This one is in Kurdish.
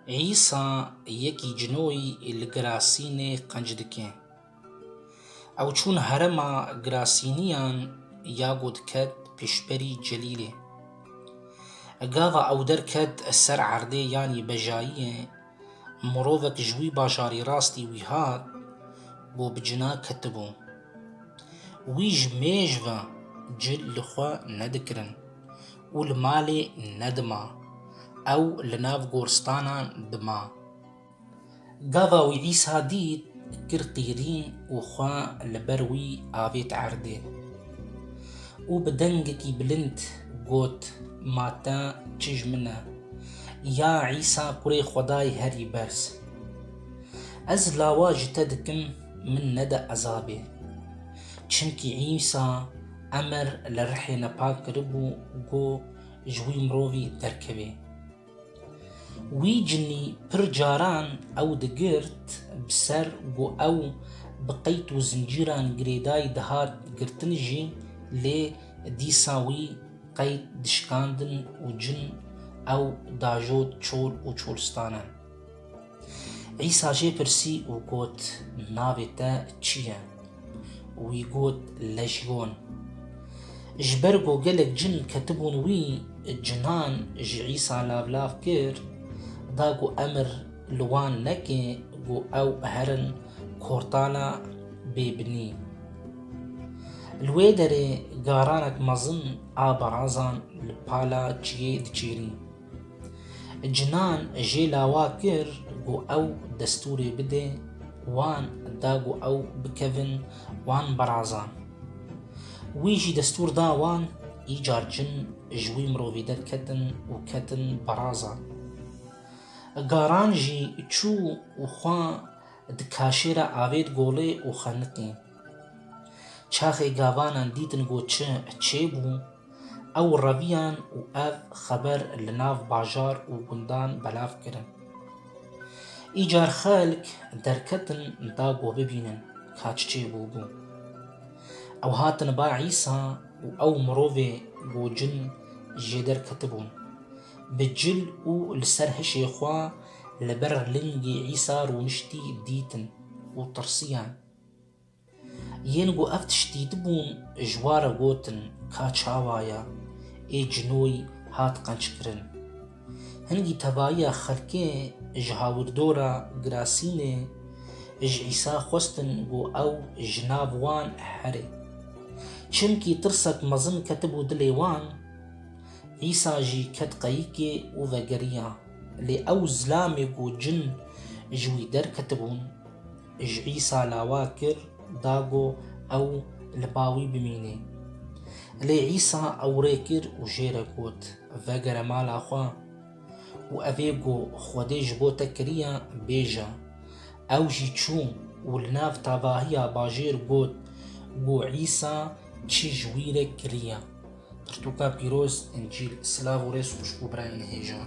Îsa yekî cinoyî li Girasînê qenc dike. Ew çûn herema Girasîniyan ya ku diket pişberî Celîlê. Gava ew derket ser erdê yanî bejayiyê, mirovek ji wî bajarî rastî wî hat bo bi cina ketibû. Wî ji mêj ve cil li xwe nedikirin. Û li malê nedima. Ew li nav goristanan dima. Gava wî Îsa dît, kir qîrîn û xwe li ber wî avêt erdê. Û bi dengekî bilind got, Ma te çij min e, ya Îsa Kurê Xwedayê Herî Berz! Ez lawa ji te dikim min nede ezabê. Çimkî Îsa Emir li rihê me pak kiribû ku ji wî mirovî derkevê. Wî cinî pir caran ew digirt bi ser ku ew bi qeyd û zincîran girêdayî dihat girtin jî lê dîsa wî qeyd dişikandin û cin ew dajot çol û çolistane. Îsa jê pirsî û got, Navê te çi ye? Wî got, Lejyon. Ji ber ku gelek cin ketibûn wî, cinan ji Îsa lavlav kir, da ku emir li wan neke ku ew herin kortana bêbinî. Li wê derê garanek mezin a barazan li pala çiyê diçêrî. Cinan jê lawa kir ku ew destûrê bide, wan da ku ew bikevin, wan berazan. Wî jî destûr da wan, îcar cin ji wî mirovî derketin û ketin beraza. Garan jî çû û xwe di kaşê re avêt golê û xeniqî. Çaxê gavanan dîtin ku çi çêbû, Ew reviyan û ev xeber li nav bajar û gundan belav kirin. Îcar xelk derketin da ku bibînin ka çi çê bûbû. Ew hatin ba Îsa û ew mirovê ku cin jê derketibûn. Bi cil û li ser hişê xwe li ber lingê Îsa rûniştî dîtin û tirsiyan. Yên ku ev tişt dîtibûn ji wan re gotin ka çawa ye, ê cinoyî hat qenckirin. Hingî tevayiya xelkê ji hawirdora Girasînê ji Îsa xwestin ku ew ji nav wan here. Çimkî tirsek mezin ketibû dilê wan, Îsa jî ket qeyikê û vegeriya. Lê ew zilamê ku cin ji wî derketibûn, Ji Îsa lawa kir da ku ew li ba wî bimîne. Lê Îsa ew rê kir û jê re got, Vegere mala xwe û evê ku Xwedê ji bo te kiriye bêje. Ew jî çû û li nav tevahiya bajêr got ku Îsa çi ji wî re kiriye. Pirtûka Pîroz, Încîl, Silav û rêz xweş bo birayê nihêjan.